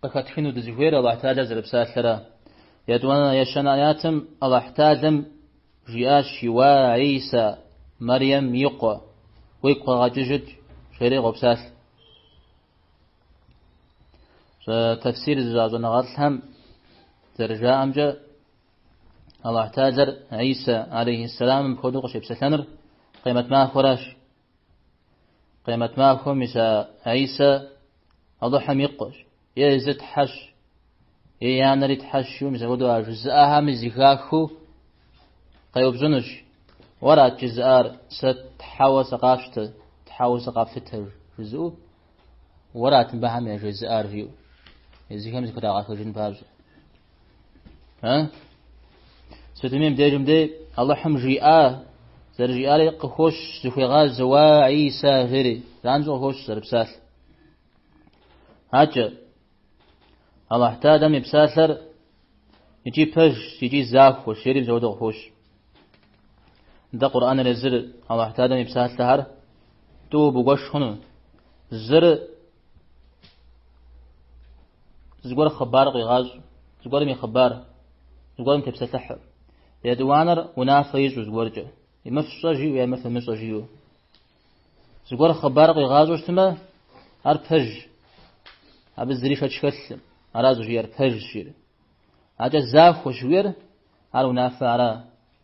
къыхэтхыну дызыхуейр Аллахь Тхьалэр зэрыпсалъэра. Етӏуанэ ещанэ аятым Аллахь Тхьалэм жиӏащ Уа Исэ, Мэрием и къуэ, уигу къэгъэкӏыжыт, жери къопсалъ. Тэфсир зыщӏа щӏэныгъэлӏхэм зэрыжаӏэмкӏэ Аллахь Тхьалэр Исэ алейхиссаламым апхуэдэу къыщепсэлъэныр къемэт махуэращ. Къемэт махуэм Исэ, Исэ Алыхьым и Къуэщ, е езыр Тхьэщ, е и анэри Тхьэщу, мис апхуэдэу а жызыӏэхэми зыхахыу къеупщӏынущ, Уэрат жызыӏар, сэ Тхьэуэ сыкъащтэ, Тхьэуэ сыкъэфлъытэ жызыӏэу, Уэрат мыбыхэм яжезыӏар жиӏэу, езыхэм зыхрагъэхыжын папщӏэ. А? Сытми мыдежым дей Аллахьым жиӏа зэрыжиӏари къыхощ зыхуегъаз уа Иса жери. Занщӏэу къыхощ зэрыпсалъ. Акӏэ Аллахь Тхьалэм и псалъэр икӏи пэж икӏи захуэщ жери мис апхуэдэу къыхощ. Дэ Къурӏаныр езыр Аллахь Тхьалэм и псалъэхэр тӏууэ бгуэш хъуну. Зыр Зыгуэр хъыбар къигъащӏ, зыгуэрым и хъыбар, зыгуэрым тепсэлъыхьу. Етӏуанэр унафэ ищӏу зыгуэркӏэ. Мыр фщӏэ жиӏэу е мыр фымыщӏэ жиӏэу. Зыгуэр хъыбар къигъащӏэу щытмэ, ар пэж. Абы зыри шэч хэлъым. Ара зыхужиӏэр пэж жиӏэр. Акӏэ захуэщ жиӏэр, ар унафэ ара.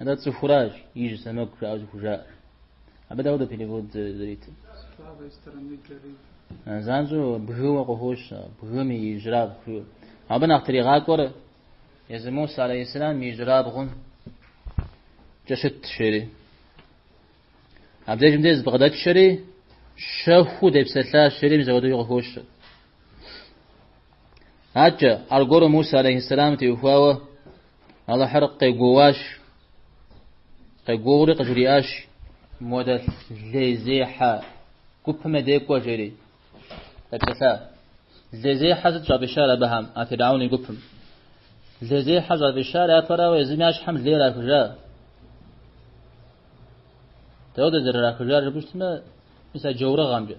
Атӏэ цӏыхуращ ижь сэмэгу жаӏэу зыхужаӏэр. Абы дауэ дэ перевод зэритыр? С правой стороны жери. А, занщӏэу бгыуэ къыхощ, бгым и ижьрабгъу жиӏэу. Абы нэхъ тригъакӏуэр езы Муса алейхиссалам и ижьрабгъумкӏэ щытщ, жери. Абдежым дей зыбгъэдэтшэри щэхуу депсэлъащ, жери мис апхуэдэуи къыхощ. Атчэ, аргуэру Муса алейхиссалам теухуауэ Алыхьыр къегуэуащ, къегуэури къыжриӏащ, Модэ лейзехьэ гупым я дей кӏуэ, жери. Епсэлъа. Лейзехьэ сыт щӏафӏищар абыхэм, а Фиргьаун и гупым? Лейзехьэ щӏафӏищар япэрауэ езым я щхьэм лей рахыжа. Дауэ дэ зэрырахыжар жыпӏэщтмэ, мис а джаурыгъэмкӏэ.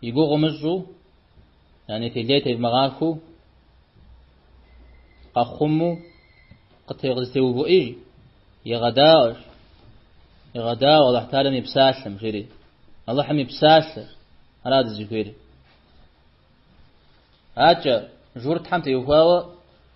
И гугъу умыщӏу, яни лей тевмыгъэхьэу, къэхъуму, къызэтегъэувыӏи, егъэдаӏуэ, егъэдаӏуэ Аллахь Тхьалэм и псалъэм, жери. Аллахьым и псалъэр, ара дызыхуейр. Акӏэ, журтхэм теухуауэ,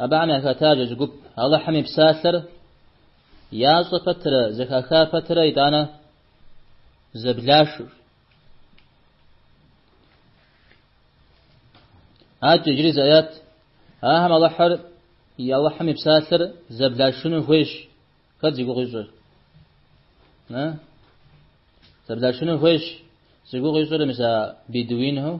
абыхэм яхэтащ зы гуп. Аллахьым и псалъэр ящӏэ пэтрэ, зэхаха пэтрэ итӏанэ зэблашыр. Атчэ иджыри зы ӏэят. Ахэм Алыхьыр и Алыхьым и псалъэр зэблашыну хуейщ. Хэт зи гугъу ищӏыр? Зэблашыну хуейщ. Зи гугъу ищӏыр мис а бедуинхэу.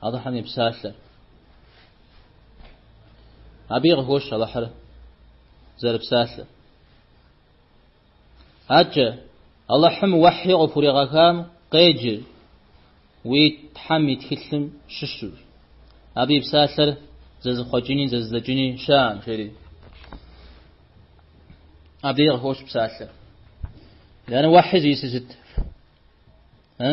Алыхьым и псалъэр. Абыи къыхощ Алыхьыр зэрыпсалъэр. Атчэ, Алыхьым уэхьи къыпхуригъэхам къеджэ уи Тхьэм и тхылъым щыщу. Абы и псалъэр зэзыхъуэкӏыни, зэзыдзэкӏыни щыӏэӏым, жери. Абыи къыхощ псалъэр. Яни уэхьи зищӏысыр сыт? Э?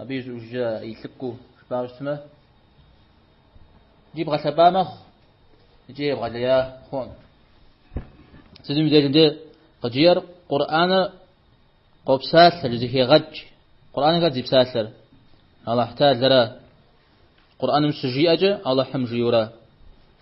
Абы и щӏыужькӏэ и лъыпкъыу жыпӏауэ щытмэ, ди бгъэлъэпӏа мэхъу икӏи ебгъэлея хъуӏым. Сытым и дежи дэ къыджиӏэр Къурӏаныр къопсалъэ, зэхегъэкӏ. Къурӏаным хэт зи псалъэр? Аллахь Тэалэра. Къурӏаным щыжиӏэкӏэ Аллахьым жиӏэу ара.